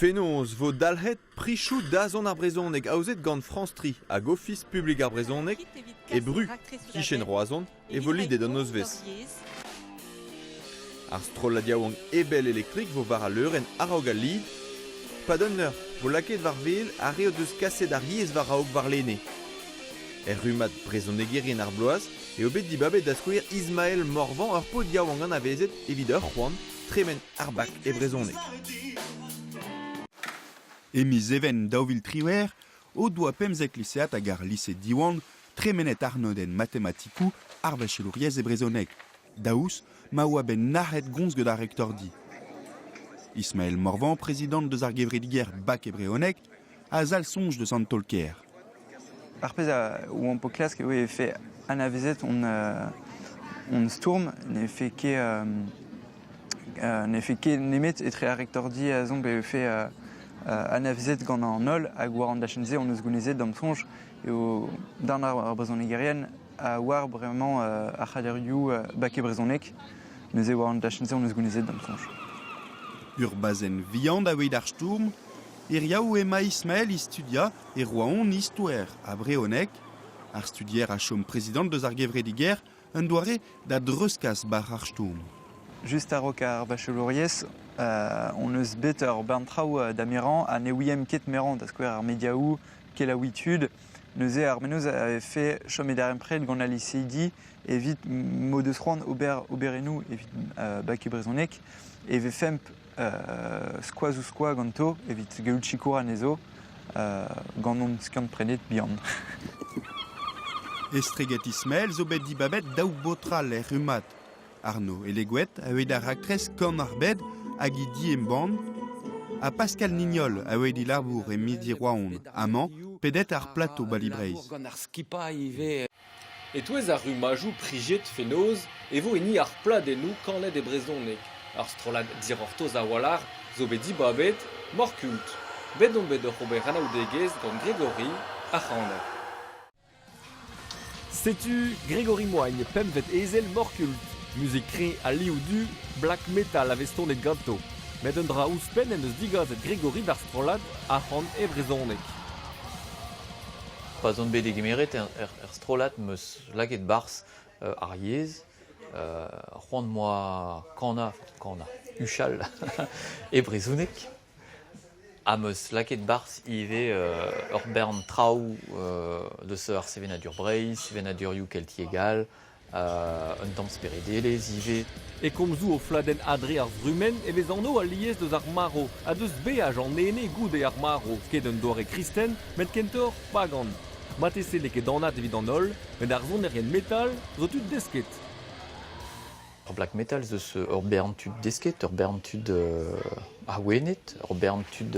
Fenoz 'vo dalc'het prizoù dazont ar brezhoneg aozet gant France Tri hag Ofis publik ar brezhoneg e Bru. Kichen Roazhon e vo lidet an nozvezh. Ar strollad yaouank Ebel Electric vo war al leurenn a-raok al lid. Padunner vo lakaet war wel ar re o deus kaset ar yezh war-raok warlene. Er rummad Brezhonegerien ar bloaz eo bet dibabet da skouer Ismael Morvan ur paotr yaouank anavezet evit ur c'hoant tremen ar bak e brezhoneg. E miz Even daou vil triwec'h o doa pemzek lisead hag ar lise Diwan tremenet arnodenn matematikoù ar vechelouriezh e brezhoneg, daoust ma oa bet nac'het gomz gant ar rektordi. Ismael Morvan, prezidant deus ar gevredigezh Bac e brezhoneg, a zalc'h soñj deus an taol-kaer. Ar pezh où on po klask eo e vefe anavezet hon, hon stourm ne fait ket, ne fait ket nemet etre ar rektordi a zomp e vefe anavezet gant an holl hag war an dachenn-se hon eus gounezet d'am soñj eo darn ar brezhonegerien a war bremañ ar c'haderioù baket brezhoneg. Neuze war an dachenn-se hon eus gounezet d'am soñj. Ur bazenn vihan da weit ar stourm Hiriv emañ Ismael é studiañ e Roazhon Istoer a vrezhoneg. Ar studier a chom prezidant deus ar gevredigezh, un doare da dreuzkas bac'h ar stourm. Just a-raok ar vacholouriezh hon eus bet ur bern traoù da merañ ha ne ouiemp ket merañ, da skouer ar mediaoù kelaouiñ tud. Neuze ar menoz a vefe chom e darempred gant al liceydi evit m'o deus c'hoant ober oberennoù evit bac e brezhoneg e vefemp skoaz-ouzh-skoaz ganto evit gaout sikour anezho gant hon skiant-prenet bihan. Estreget Ismael zo bet dibabet daou baotr all er rummad. Arno Elegouet a oe da raktres Kan ar Bed hag he di-embann, ha Pascal Nignol a oe dilabour e Midi Roaon amañ pedet ar plato Bali Breizh. E-touez ar rummajoù priziet fenoz e vo hini ar pladennoù kanet e brezhoneg. Ar strollad Dic'hortoz a-walc'h zo bet dibabet Morkult. Bet on bet oc'h ober anaoudegezh gant Grégory, ar c'haner. Setu Grégory Moagn, pempvet ezel Morkult, muzik re ha liv du black metal a vez tonet ganto. Met un dra ouzhpenn en deus digaset Grégory d'ar strollad arc'hant e brezhoneg. pa'z on bet degemeret er strollad 'm eus lakaet 'barzh ar yezh, c'hoant 'moa kanañ, kanañ, huchal e brezhoneg ha 'm eus lakaet 'barzh ivez ur bern traoù deus ar sevenadur Breizh, sevenadurioù keltiek all. Un tamm speredelezh ivez. E komzoù o fladenn Adre ar Vrumenn e vez anv alies deus ar marv ha deus beaj an ene goude ar marv, ket un doare kristen, met kentoc'h pagan. Marteze n'eo ket anat evit an holl, met ar sonerien metal zo tud desket. Ur black metal zo ur bern tud desket, ur bern tud awenet, ur bern tud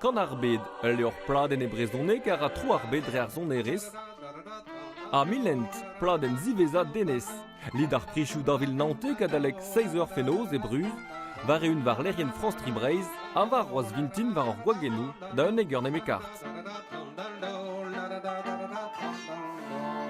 Kan ar Bed, ul levr pladenn e brezhoneg a ra tro ar bed dre ar sonerezh. Ha Milent, pladenn ziwezhañ Denez. Lid ar prizoù dañvil naontek adalek 6 eur fenoz e Bruz, war-eeun war lec'hienn France 3 Breizh ha war roaz vintin war hor gwagennoù da unnek eur nemekart.